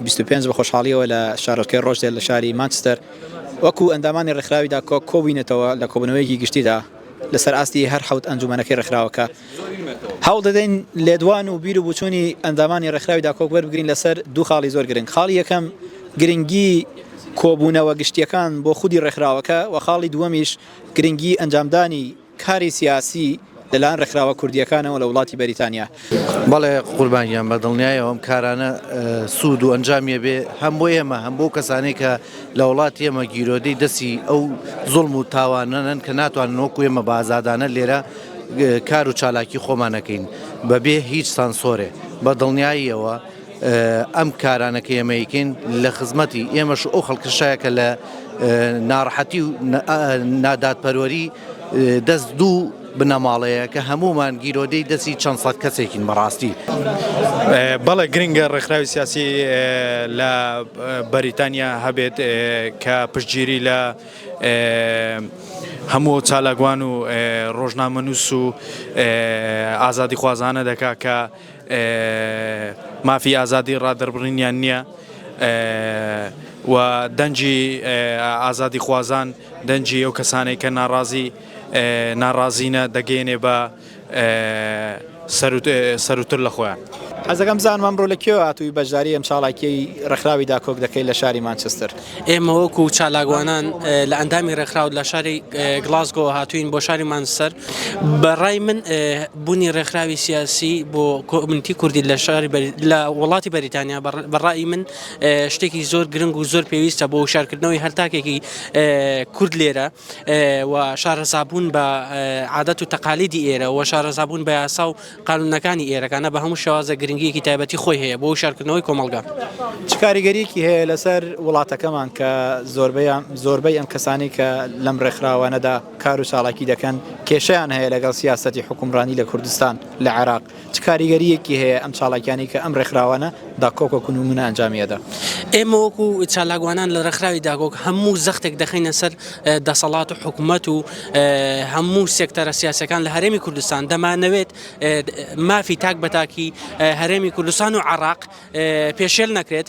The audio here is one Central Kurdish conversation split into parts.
بیست و پێنج بە خۆشحاڵییەوە لە شارۆچکەی ڕۆچدێل لە شاری مانچستەر وەکوو ئەندامانی ڕێکخراوی داکۆک کۆبووینەتەوە لە کۆبوونەوەیەکی گشتیدا لەسەر ئاستی هەر حەوت ئەنجوومەنەکەی ڕێکخراوەکە هەوڵ دەدەین لێدوان و بیر و بووچوونی ئەندامانی ڕێکخراوی داکۆک وەربگرین لەسەر دوو خاڵی زۆر گرنگ خاڵی یەکەم گرنگی کۆبوونەوە گشتییەکان بۆ خودی ڕێکخراوەکە و خاڵی دووەمیش گرنگی ئەنجامدانی کاری سیاسی لەلایەن ڕێکخراوە کوردییەکانەوە لە وڵاتی بەریتانیا. بەڵێ قوربان گیان بە دڵنیایەوە ئەم کارانە سوود و ئەنجامی ئەبێ هەم بۆ ئێمە هەم بۆ کەسانەی کە لە وڵاتی ئێمە گیرۆدەی دەستی ئەو زوڵم و تاوانەن کە ناتوانن وەکو ئێمە بە ئازادانە لێرە کار و چالاکی خۆمان نەکەین بەبێ هیچ سانسۆرێ بە دڵنیاییەوە ئەم کارانە کە ئێمە ئەیکەین لە خزمەتی ئێمەش ئەو خەڵکشایە کە لە ناڕەحەتی و نادادپەروەری دەست دوو بنەماڵەیە کە هەمومان گیرۆدەی دەستی چەند سەد کەسێکین بەڕاستی. بەڵێ گرنگە ڕێکخراوی سیاسی لە بەریتانیا هەبێت کە پشتگیری لە هەموو ئەو چالاکوان و ڕۆژنامەنووس و ئازادیخوازانە دەکا کە مافی ئازادی ڕادەربڕینیان نییە و دەنگی ئازادی خوازان دەنگی ئەو کەسانێک کە ناڕازی ناڕازینە دەگەێنێ بە سەروتر لە خۆیان. حەزەکەم بزانم ئەمڕۆ لە کوێوە هاتووی بەشداری ئەم چاڵاکیەی ڕێکخراوی داکۆک دەکەی لە شاری مانچستر؟ ئێمە وەکو چالاکوانان لە ئەندامی ڕێکخراو لە شاری گڵاسگۆ هاتوین بۆ شاری مانسەر بەڕای من بوونی ڕێکخراوی سیاسی بۆ کۆمنتی کوردی لە شاری لە وڵاتی بەریتانیا بەڕای من شتێکی زۆر گرنگ و زۆر پێویستە بۆ شارکردنەوەی هەرتاکێکی کورد لێرە و شارەزابوون بە عادەت و تەقالیدی ئێرە و شارەزابوون بە یاسا و قانونەکانی ئێرەکانە بە هەموو شێوازە گرنگیەکی تایبەتی خۆی هەیە بۆ شارکردنەوەی کۆمەڵگا چکاریگەریەکی هەیە لەسەر وڵاتەکەمان کە زۆربیان زۆربەی ئەم کەسانی کە لەم ڕێکخراوانەدا کار و چاڵاکی دەکەن کێشیان هەیە لەگەڵ سیاستی حکومڕانی لە کوردستان لە عێراق چ کاریگەرییەکی هەیە ئەم چالاکیانەی کە ئەم ڕێکخراوانە داکۆک وەکو نمونە ئەنجامی ئەدا؟ ئێمە وەکو چالاکوانان لە ڕێکخراوی داکۆک هەموو زەختێک دەخەینە سەر دەسەڵات و حکومەت و هەموو سێکتەرە سیاسەکان لە هەرێمی کوردستان دەمانەوێت مافی تاک بە تاکی هەرێمی کوردستان و عراق پێشێل نەکرێت.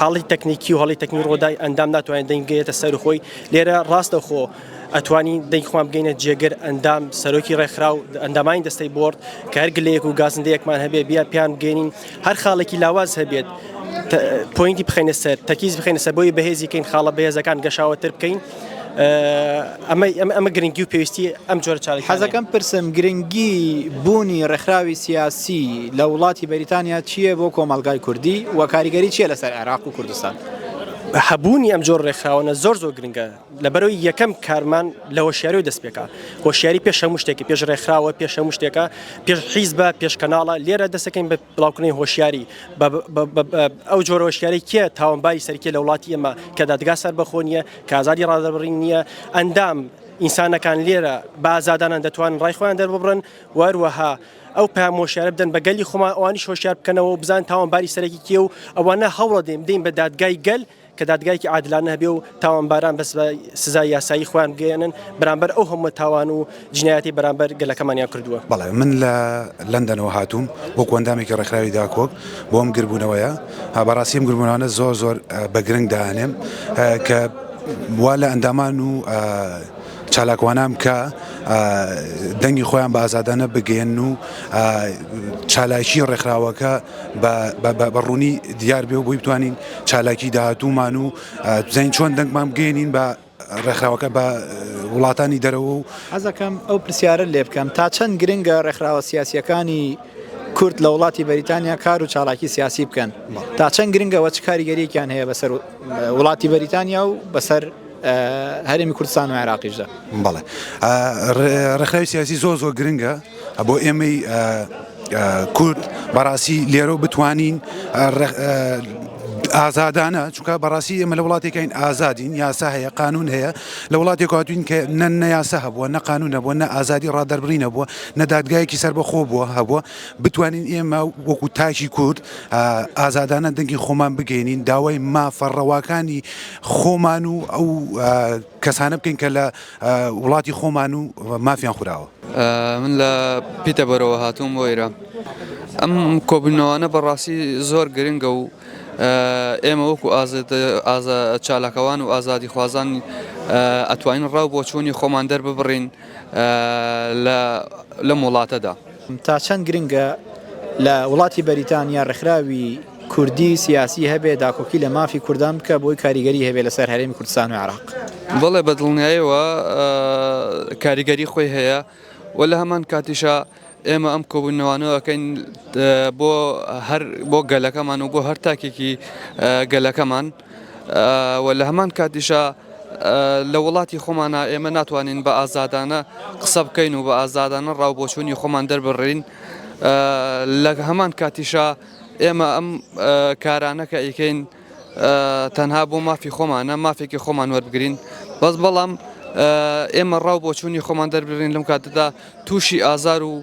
هەڵی تەکنیکی و هەڵی تەکنی ڕۆدای ئەندام ناتوانێت دەنگێتە سەر خۆی لێرە ڕاستە خۆ ئەتوانی دەیخوام بگەینە جێگر ئەندام سەرۆکی ڕێکخراو ئەندامانی دەستەی بۆرد کە هەر گلەیەک و گازندەیەکمان هەبێ بیا پیان بگەێنین هەر خاڵێکی لاواز هەبێت پوینتی بخەنە سەر تەکیز بخەنە سەر بۆی بەهێزیکەین خاڵە بەهێزەکان گەشاوەتر بکەین. ئەمە گرنگی و پێویستی ئەم جۆرە چاڵی حەزەکەم پرسم گرنگی بوونی ڕێکخراوی سیاسی لە وڵاتی بەریتانیا چییە بۆ کۆمەلگای کوردی و کاریگەری چیە لەسەر عێراق و کوردستان؟ هەبوونی ئەم جۆر ڕێکخراوەە زۆر زۆر گرنگە لەبەرەوەی یەکەم کارمان لە هۆشیاری دەست پێکا هۆشیاری پێش هەموو شتێکی پێش ڕێکخراوە پێش هەموو شتێکە پێش حیز بە پێش کەناڵە لێرە دەستەکەین بە بڵاوکردنەوەی هۆشیاری بە ئەو جۆرە هۆشیاری کێ تاوانباری سەرکیە لە وڵاتی ئێمە کە دادگا سەر بەخۆ نییە کازادی ڕادەبڕین نییە ئەندام ئینسانەکان لێرە بازادانان دەتوان ڕای خۆیان دەرببڕن وەروەها ئەو پامۆشیارە بدەن بە گەلی خۆمان ئەوانیش هۆشیار بکەنەوە بزان تاوانباری سەرەکی کێ و ئەوانە هەوڵە دێم دەین بە دادگای گەل کە دادگایەکی عادلانە هەبێ و تاوانباران بەس بە سزای یاسایی خۆیان بگەیەنن بەرامبەر ئەو هەموو تاوان و جنایەتی بەرامبەر گەلەکەمانیان کردووە. بەڵێ من لە لەندەنەوە هاتووم وەکو ئەندامێکی ڕێکخراوی داکۆک بۆ ئەم گردبوونەوەیە، بەڕاستی ئەم گردبوونەوانە زۆر زۆر بە گرنگ دائەنێم کە وا لە ئەندامان و چالاکوانان بکا دەنگی خۆیان بە ئازادانە بگەیەنن و چالاکی ڕێکخراوەکە بە ڕوونی دیار بێ و بۆی بتوانین چالاکی داهاتوومان و بزانین چۆن دەنگمان بگەێنین بە ڕێکخراوەکە بە وڵاتانی دەرەوە و حەزەکەم ئەو پرسیارە لێ بکەم تا چەند گرنگە ڕێکخراوە سیاسیەکانی کورد لە وڵاتی بەریتانیا کار و چالاکی سیاسی بکەن تا چەند گرنگەوە چ کاریگەریەکیان هەیە بەسەر وڵاتی بەریتانیا و بەسەر هەرێمی کوردستان و عێراقیشدا بەڵێ ڕێکخراوی سیاسی زۆر زۆر گرنگە بۆ ئێمەی کورد بەڕاستی لێرە بتوانین ئازادانە چونکە بەڕاستی ئێمە لە وڵاتێکین ئازادین یاسا هەیە قانون هەیە لە وڵاتێک هاتوین کە نە نەیاسا هەبووە نە قانون نەبووە نە ئازادی ڕادەربڕی نەبووە نە دادگایەکی سەر بەخۆ بووە هەبووە بتوانین ئێمە وەکو تاکی کورد ئازادانە دەنگی خۆمان بگەینین داوای مافە ڕەواکانی خۆمان و ئەو کەسانە بکەین کە لە وڵاتی خۆمان و مافیان خوراوە. من لە پیتەبۆرەوە هاتووم بۆ ئێرە. ئەم کۆبوونەوانە بەڕاستی زۆر گرنگە و ئێمە وەکو چالاکەوان و ئازادیخوازان ئەتوانین ڕا و بۆچوونی خۆمان دەرببڕین لەم وڵاتەدا. تا چەند گرنگە لە وڵاتی بەریتانیا ڕێکخراوی کوردی سیاسی هەبێ داکۆکی لە مافی کوردان بکە بۆی کاریگەری هەبێ لەسەر هەرێمی کوردستان و عراق؟ بەڵێ بە دڵنیایەوە کاریگەری خۆی هەیە و لە هەمان کاتیشا ئێمە ئەم کۆبوونەوانەوەکەین بۆ هەر بۆ گەلەکەمان و بۆ هەر تاکێکی گەلەکەمان و لە هەمان کاتیشا لە وڵاتی خۆمانا ئێمە ناتوانین بە ئازادانە قسە بکەین و بە ئازادانە ڕاو بۆچوونی خۆمان دەربڕین لە هەمان کاتیشا ئێمە ئەم کارانە کە ئەیکەین تەنها بۆ مافی خۆمانە مافێکی خۆمان وەربگرین بەس بەڵام ئێمە ڕاو بۆچوونی خۆمان دەربڕین لەم کاتەدا تووشی ئازار و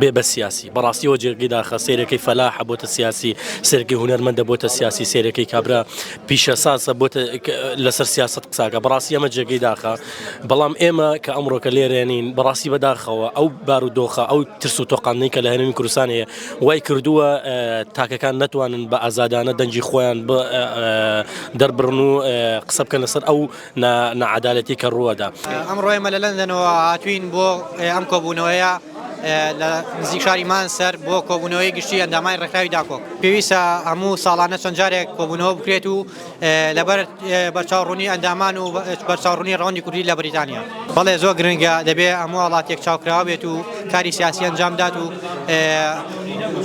بێ بە سیاسی بەڕاستیەوە جێگەی داخە سێرەکەی فەلاحە بۆتە سیاسی سێرگی هوەرمەندە بۆتە سیاسی سێرەکەی کابرا پیشە ساسە بۆتە لەسەر سیاست قساکە بەڕاستی ئەمە جێگەی داخە بەڵام ئێمە کە ئەمڕۆکە لێرێنین بەڕاستی بەداخەوە ئەو بار و دۆخە ئەو ترس و تۆقاندنی کە لە هەرمی کوردستان هەیە وای کردووە تاکەکان ناتوانن بە ئازادانە دەنجی خۆیان دەربڕن و قسە بکەن لەسەر ئەو ناعەدالەتی کە ڕووەدا. ئەمڕۆ ئێمە لە لەندەنەوە هاتووین بۆ ئەم کۆبوونەوەیە لە نزیک شاری مانسەر بۆ کۆبوونەوەی گشتی ئەندامانی ڕێکخراوی داکۆک. پێویستە هەموو ساڵانە چەند جارێک کۆبوونەوە بکرێت و لەبەر بەرچاوڕوونی ئەندامان و بەرچاوڕوونی ڕەوەندی کوردی لە بەریتانیا. بەڵێ زۆر گرنگە، دەبێت هەموو وڵات یەکچاوکراوە بێت و کاری سیاسی ئەنجام بدات و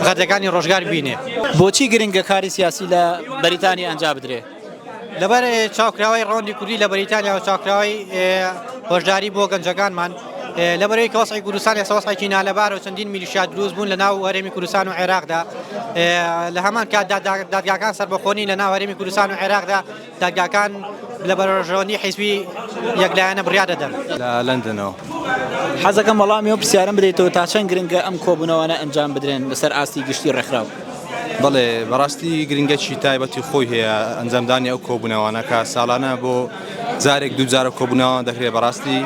غەدەکانی ڕۆژگار ببینێت. بۆچی گرنگە کاری سیاسی لە بەریتانیا ئەنجا بدرێت؟ لەبەر چاوکراوەی ڕەوەندی کوردی لە بەریتانیا و چاوکراوەی هۆشداری بۆ گەنجەکانمان لەبەرەوەی کە وەسعی کوردستان ێستا وەسعێکی نالەبار و چەندین میلیشیا دروست بوون لە ناو هەرێمی کوردستان و عێراقدا لە هەمان کات دادگاکان سەربەخۆنی لە ناو هەرێمی کوردستان و عێراقدا دادگاکان لە بەرۆژەوەندی حیزبی یەکلایەنە بڕیار دەدەن لە لەندنەوە حەزەکەم وەڵامی و پرسیارم بدەیتەوە تا چەند گرنگە ئەم کۆبوونەوانە ئەنجام بدرێن لەسەر ئاستی گشتی ڕێکخراو بەڵێ بەڕاستی گرنگەکی تایبەتی خۆی هەیە ئەنجامدانی ئەو کۆبوونەوانە کە ساڵانە بۆ جارێک دوو جارە کۆبوونەوان دەکرێت بەڕاستی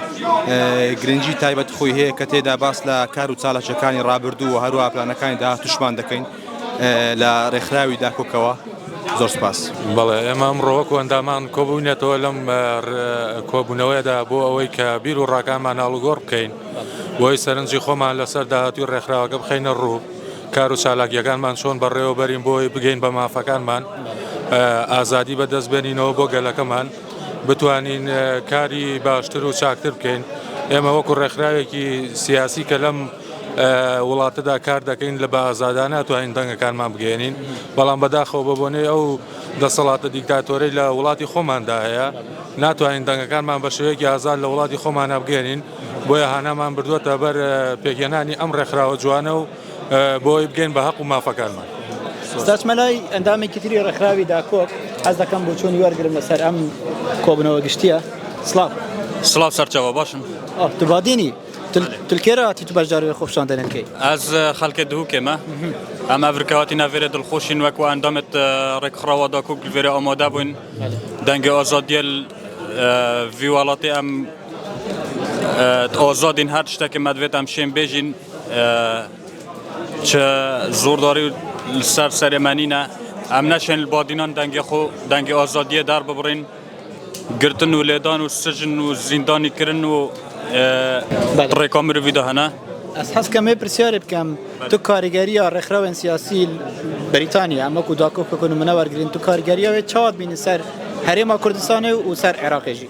گرنگی تایبەت خۆی هەیە کە تێدا باس لە کار و چاالکیەکانی ڕابردوو و هەروە پلانەکانی داهاتوشمان دەکەین لە ڕێکخراوی داکۆکەوە زۆر سپاس بەڵێ ئێمە ئەمڕۆوەک و ئەندامان کۆبوونێتەوە لەم کۆبوونەوەیدا بۆ ئەوەی کە بیر و ڕاکامان هەڵگۆڕ بکەین بۆی سەرنجی خۆمان لەسەر داهاتوی ڕێکخراوەکە بخینە ڕوو. کار و چالاکییەکانمان چۆن بەڕێوە بەرین بۆی بگەین بە مافەکانمان ئازادی بەدەست بێنینەوە بۆ گەلەکەمان بتوانین کاری باشتر و چاکتر بکەین ئێمە وەکو ڕێکخراوێکی سیاسی کە لەم وڵاتەدا کار دەکەین لە بە ئازادانە توانین دەنگەکانمان بگەێنین بەڵام بەداخەوە بە بۆنەی ئەو دەسەڵاتە دیکتاتۆرەی لە وڵاتی خۆماندا هەیە ناتوانین دەنگەکانمان بە شێوەیەکی ئازاد لە وڵاتی خۆمانە بگەێنین بۆیە هانامان بردووەتە بەر پێکهێنانی ئەم ڕێکخراوە جوانە و بۆ ئەوەی بگەین بە هەق و مافەکانمان. دەچمە لای ئەندامێکی تری ڕێکخراوی داکۆک، حەز دەکەم بۆچوونی وەرگرم لەسەر ئەم کۆبوونەوە گشتییە. سڵاو. سڵاو سەرچاوە، باشم. تو بادینی، تل کێ را هاتی تو بەشداری وێ خۆپیشاندەنێن کەی؟ ئەز خەلکێ دهوکێمە، ئەم ئەڤرکەواتی ناڤێرێ دڵخوشین وەکوو ئەندامێت ڕێکخڕاوا داکۆک لڤێرێ ئامادە بووین دەنگێ ئازادییەێل ڤی وڵاتێ ئەم ئۆزۆ دین هەر تشتەکێ مەدڤێتام شێن بێژین چ زۆرداری و سەر سەرێمەنینە ئەم نەشێن بۆ دینان دەنگێ خۆ دەنگی ئۆزۆدیە دار ببڕین گرتن و لێدان و سژن و زیندانی کردن و ڕێکۆ مرۆڤی داهەنە ئەس حەز کەمێ پرسیارێ بکەم تو کاریگەریە ڕێکخراوێن سیاسی بریتانیا ئەمەکو داکۆ بکەن و منە وەرگین تو کاریگەریاوێت چاوت بینی سەر هەرێما کوردستانی و سەر عێراقێژی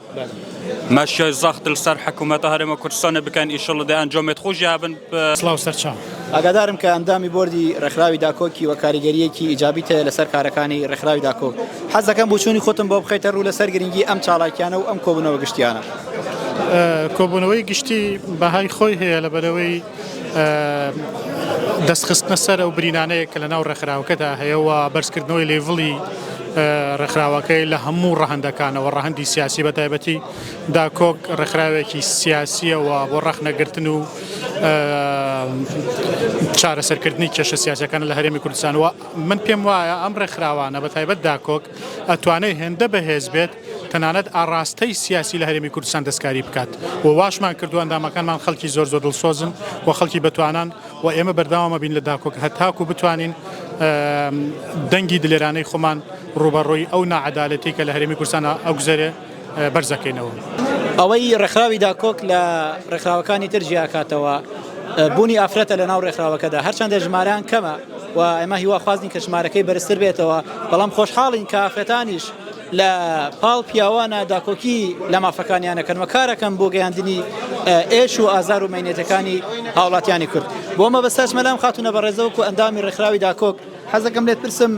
ماشیای زەخت لەسەر حکومەتە هەرێمە کوردستانە بکەن ئیشەڵە دە ئەنجامێت خۆش یابن سلااو سەرچاو. ئاگادارم کە ئەندامی بۆردی ڕێکخراوی داکۆکی و کاریگەریەکی ئیجابیت هەیە لەسەر کارەکانی ڕێکخراوی داکۆک حەز دەکەم بوچوونی خۆتم بۆ بخەیتە ڕوو لەسەر گرنگی ئەم چاڵاکیانە و ئەم کۆبنەوە گشتیانە. کۆبوونەوەی گشتی بەهای خۆی هەیە لەبەرەوەی دەست خستنە سەر ئەو برینانەیە کە لە ناو ڕێکخراوەکەدا هەیە و بەرزکردنەوەی لێڤڵی ڕێکخراوەکەی لە هەموو ڕەهەندەکانەوە ڕەهەندی سیاسی بە تایبەتی داکۆک ڕێکخراوێکی سیاسیەوە بۆ ڕەخنەگرتن و چارەسەرکردنی کێشە سیاسەکان لە هەرێمی کوردستانەوە من پێم وایە ئەم ڕێکخراوانە بە تایبەت داکۆک ئەتوانێت هێندە بەهێز بێت تەنانەت ئاڕاستەی سیاسی لە هەرێمی کوردستان دەستکاری بکات و واشمان کردووە، ئەندامەکانمان خەڵکی زۆر زۆر دڵسۆزن و خەڵکی بەتوانان و ئێمە بەردەوام ئەبین لە داکۆک هەتاکوو بتوانین دەنگی دلێرانەی خۆمان ڕووبەڕووی ئەو ناعەدالەتی کە لە هەرێمی کوردستان ئەگوزەرێ بەرز ئەکەینەوە. ئەوەی ڕێکخراوی داکۆک لە ڕێکخراوەکانی تر جیا ئەکاتەوە بوونی ئافرەتە لە ناو ڕێکخراوەکەدا، هەرچەندە ژمارەیان کەمە و ئێمە هیواخوازین کە ژمارەکەی بەرزتر بێتەوە، بەڵام خۆشحاڵین کە ئافرەتانیش، لە پاڵ پیاوانە داکۆکی لە مافەکانیان دەکەن و کارەکەن بۆ گەیاندنی ئێش و ئازار و مەینەتەکانی هاوڵاتیانی کورد بۆ مەبەستاش مەلام خاتونە بە ڕێزەوەکو ئەندامی ڕێکخراوی داکۆک حەزەکەم لێت پرسم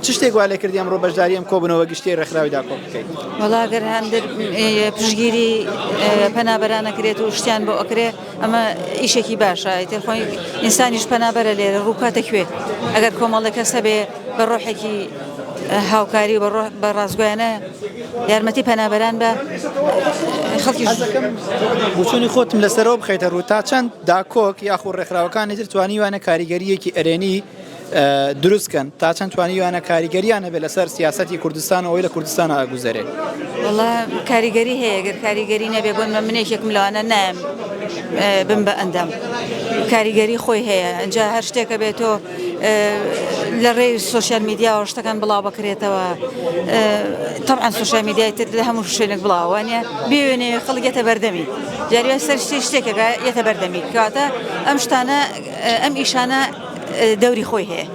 چ شتێک وا لێکردی ئەمڕۆ بەشداریم کۆبنەوە گشتی ڕێکخراوی داکۆ بکەیت وڵاگەر هەندێک پشگیری پەنابەرانەکرێت و شتیان بۆ ئەکرێ ئەمە ئیشێکی باشە ئیتر خۆی ئینسانیش پەنابەرە لێرە ڕووکاتە کوێ ئەگەر کۆمەڵێک کەس هەبێ بە ڕۆحێکی هاوکاری و بە ڕاستگویانە یارمەتی پەنابەران بە خەڵکی بچوونی خۆتم لەسەرەوە بخیتە ڕوو تا چەند داکۆک یاخو ڕێکخراوەکانی تر توانیوانە کاریگەریەکی ئەرێنی دروستکەن تا چەند توانیویانە کاریگەریان هەبێت لەسەر سیاستی کوردستان ئەوەی لە کوردستان ئاگوزەرێ وڵا کاریگەری هەیە گەر کاریگەری نەبێ بۆن مە منێکێکم لەوانە نایم بم بە ئەندام کاریگەری خۆی هەیە ئەجا هەر شتێکە بێت تۆ لە ڕێی سوسیال میدیاوە شتەکان بڵاو بکرێتەوە تەعاان سوسیال میدیای تر لە هەموو شوێنێک بڵاوانە بێوێنێ خەڵگێتە بەردەمی جاریوە سەر شتێ شتێکەکە یەتە بەردەمی کاتە ئەم شتانە ئەم ئیشانە دەوری خۆی هەیە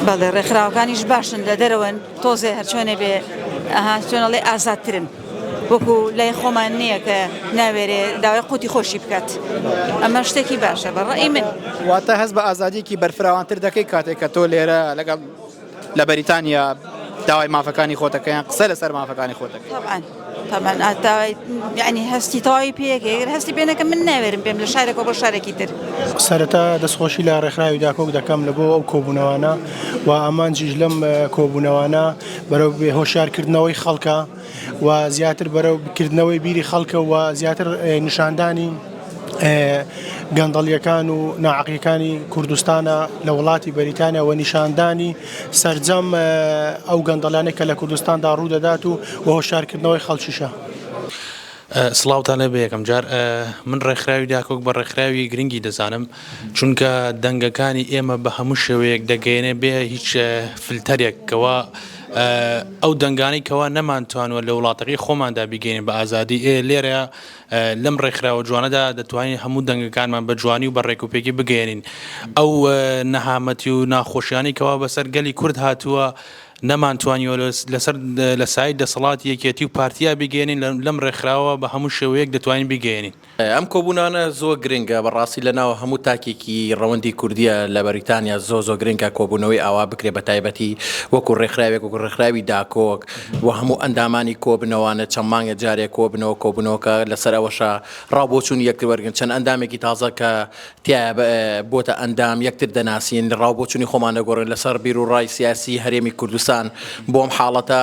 بەڵێ ڕێکخراوەکانیش باشن لە دەرەوەن تۆزێ هەرچۆنێ بێ ئەها چۆنەڵێ ئازادترن وەکو لای خۆمان نییە کە ناوێرێ داوای قوتی خۆشی بکات ئەمە شتێکی باشە بەڕێ من واتە هەز بە ئازادیکی بەرفراوانتر دەکەی کاتێک کە تۆ لێرە لەگەڵ لە بەریتانیا داوای مافەکانی خۆتەکەیان قسە لەسەر مافەکانی خۆتەکە طبعاً طبعاً ئاتاوای یعنی هەستی تەواوی پێەکە گەر هەستی پێنەکە من ناوێرم پێم لە شارێکەوە بۆ شارێکی تر سەرەتا دەستخۆشی لە ڕێکخراوی داکۆک دەکەم لە بۆ ئەو کۆبوونەوانە و ئامانجیش لەم کۆبوونەوانە بەرەو بێ هۆشارکردنەوەی خەڵکە و زیاتر بەرەو کردنەوەی بیری خەڵکە و زیاتر نیشاندانی گەندەڵیەکان و ناعقیەکانی کوردستانە لە وڵاتی بەریتانیا و نیشاندانی سرجەم ئەو گەندەڵانێک کە لە کوردستاندا ڕوودەدات و هۆشارکردنەوەی خەڵکیشە. سڵاوتان لێبێ یەکەم جار من ڕێکخراوی داکۆک بە ڕێکخراوی گرنگی دەزانم چونکە دەنگەکانی ئێمە بە هەموو شێوەیەک دەگەێنێ بێ هیچ فلتەرێکەوە ئەو دەنگانەی کەوا نەمانتوانوە لە وڵاتەکەی خۆماندا بیگەینە بە ئازادی ئێ لێرەیا لەم ڕێکخراوە جوانەدا دەتوانین هەموو دەنگەکانمان بە جوانی و بە ڕێکوپێکی بگەێنین ئەو نەهامەتی و ناخۆشیانی کەوا بەسەر گەلی کورد هاتووە نەمانتوانیوە لەسەر لە سای دەسەڵات یەکێتی و پارتیا بگەێنین لەم ڕێکخراوە بە هەموو شێوەیەک دەتوانین بگەێنین. ئەم کۆبونانە زۆر گرنگە بەڕاستی لە ناو هەموو تاکێکی ڕەوەندی کوردیە لە بەریتانیا زۆ زۆ گرنگە کۆبوونەوەی ئاوا بکرێ بە تایبەتی وەکو ڕێکخراوێک وەکو ڕێکخراوی داکۆک و هەموو ئەندامانی کۆبنەوانە چەند مانگە جارێک کۆبنەوە کۆبنەوەکە لەسەر ئەوەشە ڕاوبۆچوون یەکتر وەرگن چەند ئەندامێکی تازە کە تیا بۆتە ئەندام یەکتر دەناسین ڕاوبۆچوونی خۆمان دەگۆڕن لەسەر بیرو ڕای سیاسی هەرێمی کوردستان بۆم حاڵەتە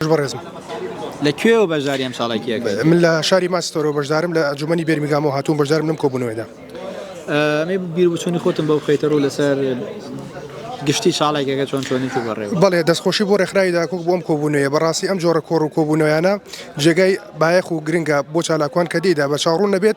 بەڕێزم لە کوێوە بەشداری ئەم چاڵێکی ئەکەیت؟ من لە شاری ماستۆرەوە بەشدارم لە ئەنجومەنی بێرمیگامەوە هاتووم بەشدارم لەم کۆبوونەوەیدا. ئەمەی بیربچوونی خۆتم بەو خەیتەڕوو لەسەر گشتی چاڵێکەکە چۆن چۆنی و بەڕێ بەڵێ دەستخۆشی بۆ ڕێکخراوی داکوک بۆم کۆبوونەیە بەڕاستی ئەم جۆرە کۆڕ و کۆبوونەوەیانە جێگای بایەخ و گرنگە بۆ چالاکوان کە دیدا بە چاڕوون نەبێت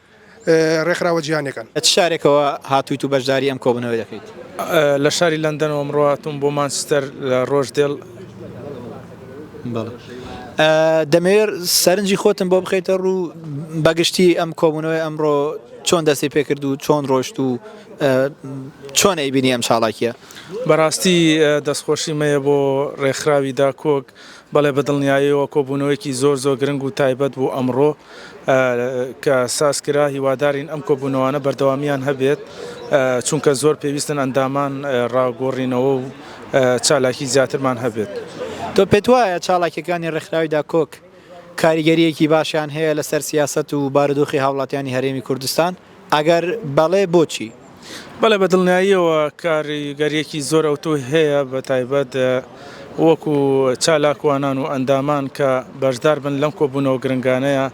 ڕێکخراوە جیهانیەکان. لە چ شارێکەوە هاتوویت و بەشداری ئەم کۆبوونەوەی دەکەیت؟ لە شاری لەندەنەوە ئەمڕۆ هاتووم بۆ مانچستەر لە ڕۆژدێل. دەمەوێت سەرنجی خۆتم بۆ بخەیتە ڕوو بە گشتی ئەم کۆبوونەوەی ئەمڕۆ چۆن دەستی پێکرد و چۆن ڕۆشت و چۆن ئەیبینی ئەم چاڵاکیە؟ بەڕاستی دەستخۆشیم هەیە بۆ ڕێکخراوی داکۆک، بەڵێ بەدڵنیایەوە کۆبوونەوەیەکی زۆر زۆر گرنگ و تایبەت بوو ئەمڕۆ کە ساز کرا، هیوادارین ئەم کۆبوونەوانە بەردەوامیان هەبێت چونکە زۆر پێویستن ئەندامان ڕاگۆڕینەوە و چالاکی زیاترمان هەبێت. تۆ پێت وایە چالاکیەکانی ڕێکخراوی داکۆک کاریگەریەکی باشیان هەیە لەسەر سیاسەت و بارودۆخی هاوڵاتیانی هەرێمی کوردستان؟ ئەگەر بەڵێ بۆچی؟ بەڵێ بە دڵنیاییەوە کاریگەریەکی زۆر ئەوتۆی هەیە بە تایبەت وەکو چالاکوانان و ئەندامان کە بەشدار بن لەم کۆبوونەوە گرنگانەیە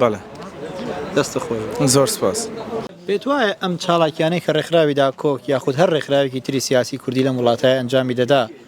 بەڵێ. دەستت خۆش بێت. زۆر سوپاس. پێتوایە ئەم چالاکیانەی کە ڕێکخراوی داکۆک یاخود هەر ڕێکخراوێکی تری سیاسی کوردی لەم وڵاتای ئەنجامی دەدا،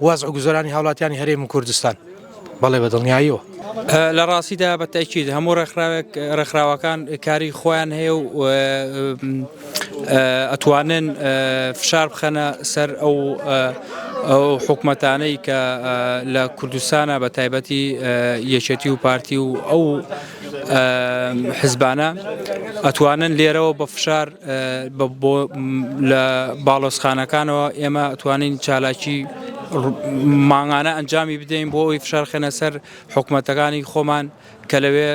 وەزع و گوزەرانی هاوڵاتیانی هەرێم کوردستان. بەڵێ بە دڵنیاییەوە. لە ڕاستیدا بە تەئکید هەموو ڕێکخراوێک ڕێکخراوەکان کاری خۆیان هەیە و ئەتوانن فشار بخەنە سەر ئەو ئەو حکومەتانەی کە لە کوردستانە بە تایبەتی یەکێتی و پارتی و ئەو حزبانە ئەتوانن لێرەوە بە فشار لە باڵۆسخانەکانەوە ئێمە توانین چالاکی ماغانە ئەنجامی بدەین بۆ ئەوی فشار خێنە سەر حکوومەتەکانی خۆمان کە لەوێ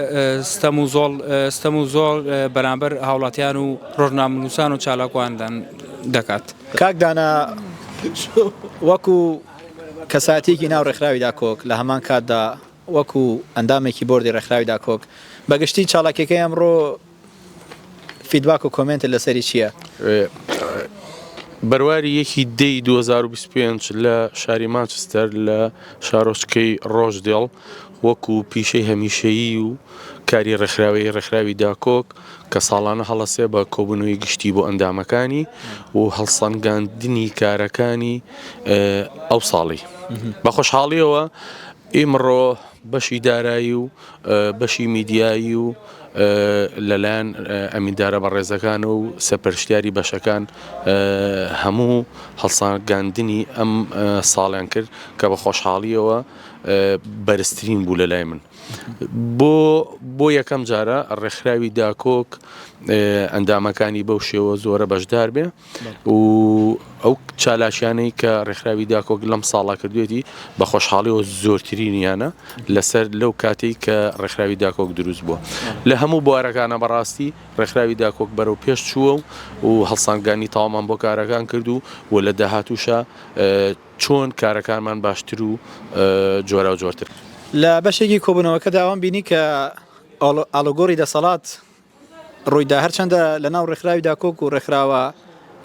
ستەم و زۆڵ ستەم و زۆڵ بەرامبەر هاوڵاتیان و ڕۆژنامنووسان و چالاکواندان دەکات کاکدانا وەکو کەساتێکی ناو ڕێکخراوی داکۆک لە هەمان کاتدا وەکو ئەندامێکی بۆردی ڕێکخراوی داکۆک بە گشتی چالاکیەکەی ئەمڕۆ فیدباک و کۆمێنتت لەسەری چیە؟ بەرواری یەکی دەی دوو هەزار و بیست و پێنج لە شاری مانچستەر لە شارۆچکەی ڕۆژدێڵ وەکو پیشەی هەمیشەیی و کاری ڕێکخراوەیی ڕێکخراوی داکۆک کە ساڵانە هەڵە سێ بە کۆبوونەوەی گشتی بۆ ئەندامەکانی و هەڵسەنگاندنی کارەکانی ئەو ساڵی بە خۆشحاڵیەوە ئیمڕۆ بەشی دارایی و بەشی میدیایی و لەلایەن ئەمیندارە بەڕێزەکانە و سەرپەرشتیاری بەشەکان هەموو هەڵسانگاندنی ئەم ساڵیان کرد کە بە خۆشحاڵیەوە بەرزترین بوو لە لای من بۆ بۆ یەکەم جارە ڕێکخراوی داکۆک ئەندامەکانی بەو شێوە زۆرە بەشدار بێ و ئەو چالاکیانەی کە ڕێکخراوی داکۆک لەم ساڵا کردوێتی بە خۆشحاڵیەوە زۆرترینیانە لەسەر لەو کاتەی کە ڕێکخراوی داکۆک دروست بووە لە هەموو بوارەکانە بەڕاستی ڕێکخراوی داکۆک بەرەو پێش چووە و هەڵسانگانی تاوامان بۆ کارەکان کرد و و لە داهاتووشا چۆن کارەکانمان باشتر و جۆراو جۆرتر لە بەشێکی کۆبوونەوەکەدا ئەوەم بینی کە ئاڵوگۆڕی دەسەڵات ڕوویدا، هەرچەندە لە ناو ڕێکخراوی داکۆک و ڕێکخراوە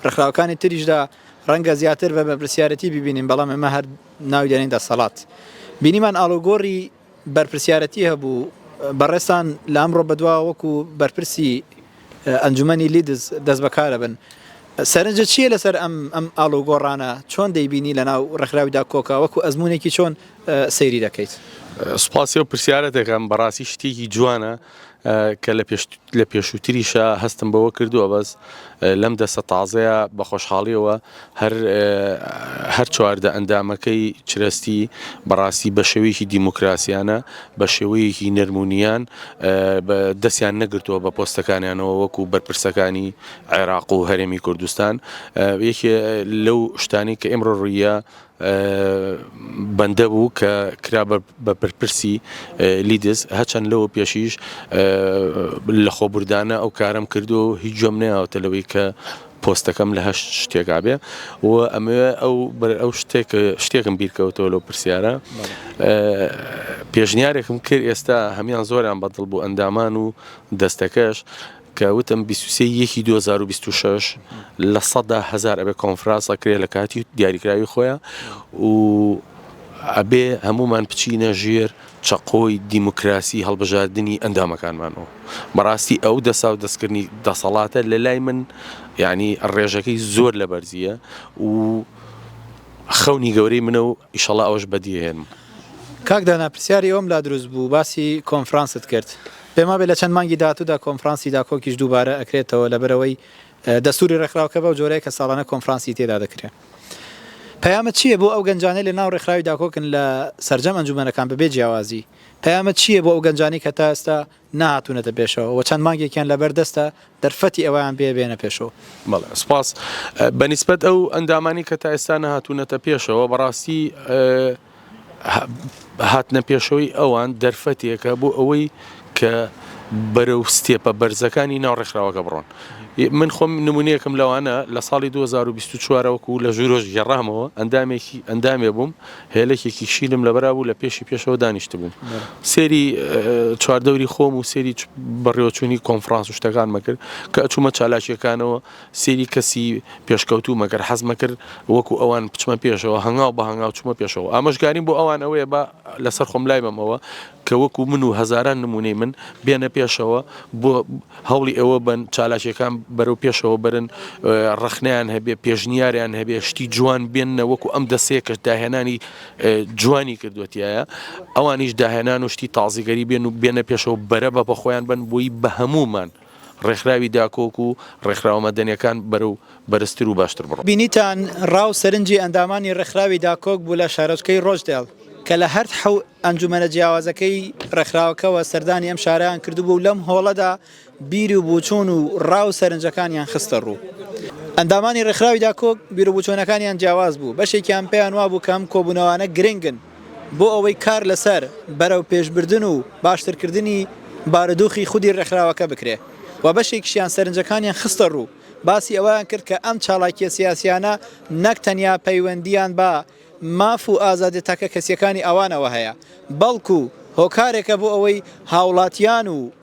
ڕێکخراوەکانی تریشدا ڕەنگە زیاتر بە بەرپرسیارەتی بیبینین، بەڵام ئێمە هەر ناوی دەنێین دەسەڵات. بینیمان ئاڵوگۆڕی بەرپرسیارەتی هەبوو، بەڕێزتان لە ئەمڕۆ بەدواوە وەکو بەرپرسی ئەنجومەنی لیدز دەست بەکارەبن، سەرنجت چییە لەسەر ئەم ئاڵوگۆڕانە، چۆن دەیبینی لە ناو ڕێکخراوی داکۆکا، وەکو ئەزموونێکی چۆن سەیری دەکەیت؟ سوپاسی ئەو پرسیارەتەکەم، بەڕاستی شتێکی جوانە، کە لە پێشووتریشە هەستم بەوە کردووە بەس لەم دەستە تازەیە بە خۆشحاڵیەوە هەر چواردە ئەندامەکەی چرەستی بەڕاستی بە شێوەیەکی دیموکراسیانە بە شێوەیەکی نەرمونیان دەستیان نەگرتووە بە پۆستەکانیانەوە وەکو بەرپرسەکانی عێراق و هەرێمی کوردستان یەکێ لەو شتانی کە ئمرۆ ڕویە بەندە بوو کە کرا بە بەرپرسی لیدز، هەرچەند لەوە پێشیش لەخۆبوردانە ئەو کارەم کردووە و هیچ گوێم نەیاوەتە لەوەی کە پۆستەکەم لە هەر شتێکا بێ و ئەمەوێ ئەو بەر ئەو شتێک شتێکم بیرکەوتەوە لەو پرسیارە پێشنیارێکم کرد ئێستا هەمان زۆران بەدڵ بوو ئەندامان و دەستەکەش کە وتم بیست و سێ ی یەکی دوو هەزار و بیست و شەش لە سەدا هەزار ئەبێ کۆنفراس ئەکرێ لە کاتی و دیاریکراوی خۆیان و ئەبێ هەمومان بچینە ژێر چەقۆی دیموکراسی هەڵبژاردنی ئەندامەکانمانەوە بەڕاستی ئەو دەسا و دەستکردنی دەسەڵاتە لە لای من یعنی ڕێژەکەی زۆر لە بەرزیە و خەونی گەورەی منە و ئیشەڵا ئەوش بەدیهێنم کاک دانا پرسیاری ئەوم لا دروست بوو باسی کۆنفرانست کرد بێمابێ لە چەند مانگی داهاتوودا کۆنفرانسی داکۆکیش دووبارە ئەکرێتەوە لەبەرئەوەی دەستوری ڕێکخراو کە بەو جۆرەیە کە ساڵانە کۆنفرانسی تێدا دەکرێ پەیامت چییە بۆ ئەو گەنجانەی لە ناو ڕێکخراوی داکۆکن لە سەرجەم ئەنجومەنەکان بەبێ جیاوازی پەیامت چییە بۆ ئەو گەنجانەی کە تا ئێستا نەهاتوونەتە پێشەوە و چەند مانگێکیان لەبەر دەستە دەرفەتی ئەوەیان بێ بێنە پێشەوە؟ بەڵێ سپاس بە نیسبەت ئەو ئەندامانەی کە تا ئێستا نەهاتوونەتە پێشەوە بەڕاستی هاتنە پێشەوەی ئەوان دەرفەتێکە بۆ ئەوەی کە بەرەو ستێپە بەرزەکانی ناو ڕێکخراوەکە بڕۆن. من خۆم نموونەیەکم لەوانە، لە ساڵی دوو هەزار و بیست و چوار وەکوو لە ژوورۆش گێڕامەوە، ئەندامێکی ئەندامێ بووم، هێلەکێکی شینم لەبەرا بوو لە پێشی پێشەوە دانیشتبووم. سەیری چواردەوری خۆم و سەیری بەڕێوەچوونی کۆنفڕانس و شتەکانمە کرد کە ئەچوومە چالاکییەکانەوە. سەیری کەسی پێشکەوتوو مەکەر حەز مەکر وەکو ئەوان بچمە پێشەوە هەنگاو بە هەنگاو چوومە پێشەوە ئامۆژگاریم بۆ ئەوان ئەوەیە با لەسەر خۆم لای بەمەوە کە وەکو من و هەزاران نموونەی من بێنە پێشەوە بۆ هەوڵی ئەوە بەن چالاکیەکان بەرەو پێشەوە بەرن ڕەخنەیان هەبێ پێشنیاریان هەبێ شتی جوان بێننە وەکو ئەم دەسەیە کەش داهێنانی جوانی کردوەتیایە ئەوانیش داهێنان و شتی تازیگەری بێن و بێنە پێشەوە بەرە بە بەخۆیان بن بۆی بە هەمومان ڕێکخراوی داکۆک و ڕێکخراوە مەدەنیەکان بەرەو بەرزتر و باشتر بڕۆن. بینیتان ڕا و سەرنجی ئەندامانی ڕێکخراوی داکۆک بوو لە شارۆچکەی ڕۆچدێڵ کە لە هەرد حەو ئەنجومەنە جیاوازەکەی ڕێکخراوەکەوە سەردانی ئەم شارەیان کردبوو و لەم هۆڵەدا بیر و بوچوون و ڕا و سەرنجەکانیان خستە ڕوو. ئەندامانی ڕێکخراوی داکۆک بیروبوچۆنەکانیان جیاواز بوو، بەشێکیان پێیان وابوو کە ئەم کۆبوونەوانە گرنگن، بۆ ئەوەی کار لەسەر بەرەوپێشبردن و باشترکردنی بارودوخی خودی رێکخراوەکە بکرێت و بەشێکیشیان سەرنجەکانیان خستەڕوو باسی ئەوەیان کرد کە ئەم چالاکیە سیاسیانە نەک تەنیا پەیوەندیان بە ماف و ئازادیە تاکەکەسیەکانی ئەوانەوە هەیە بەڵکو هۆکارێکە بۆ ئەوەی هاوڵاتیان و